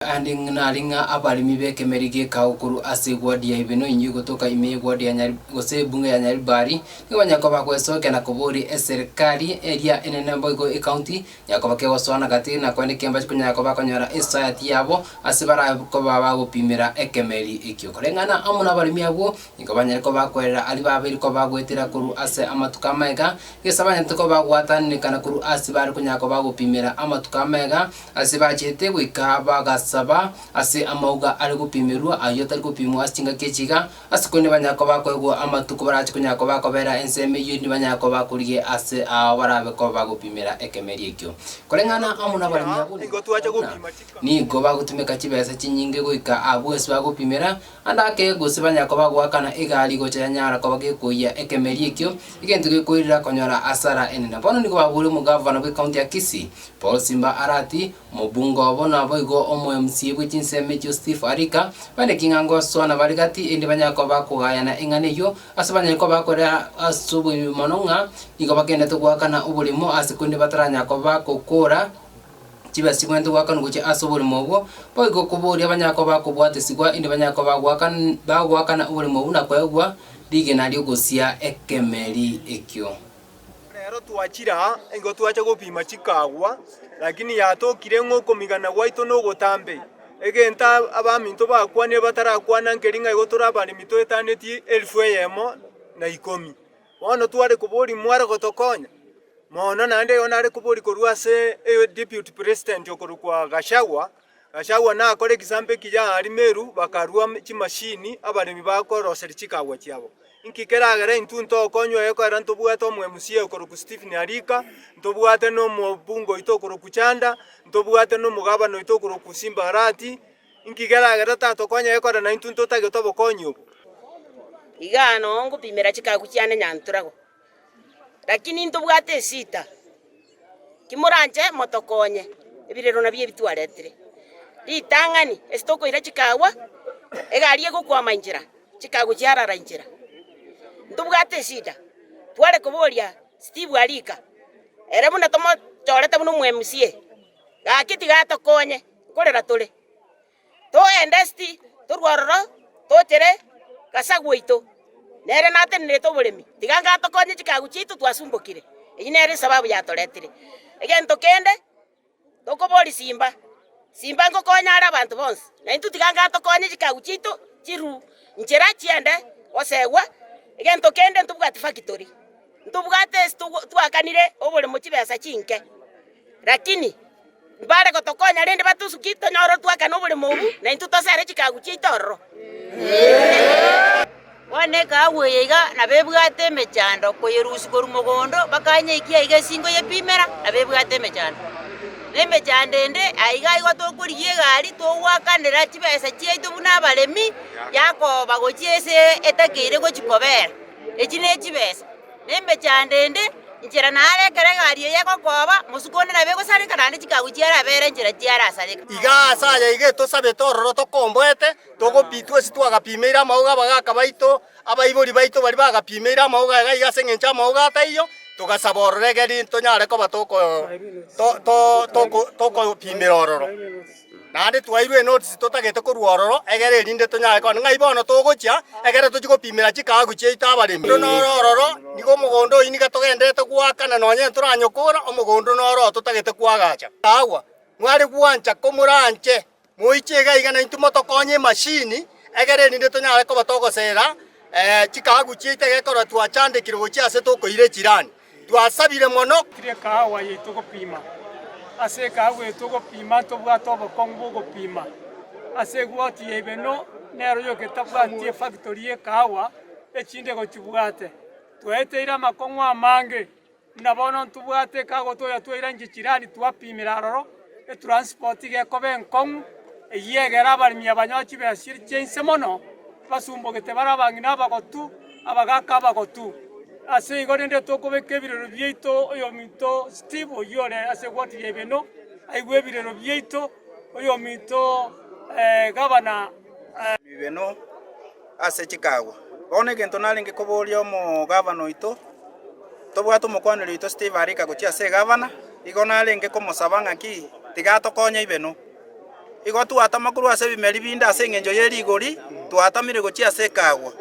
Aande nare ng'a abaremi b'ekemeri gekao korwa ase eguadi ya Hibenoi egotoka ime y'eguadi ya Nyari gose ebunge ya Nyaribari, nigo banyare koba bagwesookia na koboria eserikari eria enene boigo ecounty, nyare koba kegosoana gati na korende kembache konyara koba bakonyora esayati yabo ase bara koba bagopimera ekemeri ekio. Koreng'ana amo nabaremi abwo, nigo banyare koba bakwerera aria babeire koba bagoetera korwa ase amatuko amamega, gesa banyarete koba bagwatananekana korwa ase bare konyara koba bagopimera amatuko amamega, Ase bachete goika bagasaba ase amauga are gopimerwa ayio atari gopimwa ase chingaki echi iga, ase korende nibanyare koba bakoegwa amatuko barache konyara koba bakobera ensemo eyio endi banyare koba bakorigia ase ao barabe koba bagopimera ekemeria ekio. Koreng'ana amo nabaremi abwo nigo twachia gopima chingaki, nigo bagotumeka chibesa chinyinge goika abwo ase bagopimera, Ande ake gose banyare koba goakana egari gocha yanyara koba gekoiyia ekemeri ekio, egento gekoirera konyora hasara enene. Bono nigo babure omogavana bw'ekaunti ya Kisii, Paul Simba Arati, omobunge obo naboigo omoMCA bwe chinsemo echio Steve Arika, bande king'a ngosoana bare gati erinde banyare koba bakogayana eng'ana eyio ase banyare koba bakorera ase oboibi mono ng'a nigo bagenderete goakana oborimo ase korende bataranyara koba bagokora chibe chibwenerete goakanwa gochia ase oborimo obwo, boigo koboria abanyare koba bakobwatesigwa, inde banyare koba bagoakana bagoakana oborimo obwo na koegwa rigena ri'ogosia ekemeri ekio. Reero twachire aa, nigo twacha gopima chikagwa, lakini yatokire ng'a okomigana gwaito nogotambe, egento ab- abaminto bakwanire batarakwana nkeri ng'a igo tore abaremi toetaneti elfu eyemo na ikomi. Bono tware koboria mware gotokonya mono, naende eyo nare koboria korwa ase Deputy President okorokwa Gachagua. Gachagua nakore egesampe ekiya aria Meru bakarua chimashini abaremi bakoroseria chikaabwa chiabo. Inki keragere intwe ntokonywa ekeera ntobwate omo MCA okorokwa Stephen Arika, ntobwate na omobunge oito okorokwa Chanda, ntobwate na omogabana oito okorokwa Simba Arati, Inki kerageete tatokonyare kore naintwe ntotagete obokonyi obo? Igaa noo ngopimera chikagu chiane nyanturagwa, lakini ntobwate esita. Kimoranche motokonye, ebirero nabio ebi twaretire. Ritang'ani, ase tokoira chikagwa, egari egokwama inchera, chikagu chiarara inchera. Ntobwate esida, tware koboria Steve Arika, ere buna tomochorete buna omo MCA, Gaki tiga atokonye, nkorera tore. Togende esti, torwe ororo, tochere Gasa gwaito. Nere natenenerete oboremi, tiga inga atokonye chikagu chiaito twasumbokire. Eyio nere esababu yatoretire. Egento kende, tokoboria simba, simba ngokonya are abanto bonsi, na intwe tiga inga atokonye chikagu chiaito chirwe nchera chiende gosegwa. Egento kende ntobwati factory, ntobwate ase togwo- twakanire oboremo chibesa chinke. Lakini mbare gotokonya, rende batosukie tonyore otwakane oboremo obo, na intwe tosare chikagu chiaito ororo. Bono ekahabu eye iga nabebwate emechando koyerusia korwa mogondo bakanye ekia aiga esingo yepimera nabebwate emechando. Na emechando ende aiga igo tokorigia egari togwakanera chibesa chiaito buna abaremi yakoba gochia ase etakeire gochia kobera. Echi ne chibesa. na emechando ende, inchera naaro ekero egari eye egokooba, mosuku onde nabe egosareka naende chikagu chiarabere inchera chiarasareka. Iga aase aya iga etosabete ororo tokomboete, togopitwa ase twagapimeire amauga abagaaka baito, abaibori baito baria bagapimeire amauga aya, gaiga ase engencho amauga ataiyo, togasaba ororo egeri tonyare koba toko to- to- toko tokopimera ororo. Naende twairwe enotisi totagete korwa ororo egere erinde tonyare kona ng'ai bono togochia egere tochie gopimera chikaaku chiaito abaremi. Korende noro ororo nigo omogondo oyi niga togenderete goaka na nonya ntoranyokora omogondo noro oo totagete koagacha. Agwo mware gwancha komoranche, moiche iga iga naintwe motokonye emashini egere erinde tonyare koba togosera chikaaku chiaito egekora twachandekire gochia ase tokoira echirani. Twasabire mono. Tiri ekahawa yaito gopima. Ase ekahawa yaito gopima ntobwate obokong'u bw'ogopima. Ase egoti ya Ibeno nero yogetabwati efactory y'ekahawa echinde gochibwate. Twaeteire amakong'u amange, buna bono ntobwate ekahawa toyatwaire nche chirani twapimera aroro. Etranspoti gekoba enkong'u, eyio egere abaremi abanyowa chibesa chiria chia inse mono, basumbogete bare abang'ina abagotu, abagaaka abagotu. Ase igo rende tokobeka ebirero biaito oyominto Steve oyio ore ase egoti ya Ibeno aigwe ebirero biaito, oyominto Gavana Ibeno. Ase chikaagwa, bono egento narenge kobooria omogavana oito, tobwate omokwaneri oito Steve arika gochia ase egavana, igo narenge komosaba ng'a ki, tiga atokonye Ibeno. Igo twatama korwa ase ebimeri binde ase engencho ye rigori twatamire gochia ase ekaagwa.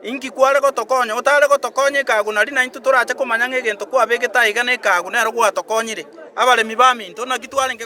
Inki kware gotokonya? Otare gotokonya ekaagwa nari naintwe torache komanya ng'a egento kwabegete aiga na ekaagwa nero gwatokonyire. Abaremi baminto, naki twarenge goteba.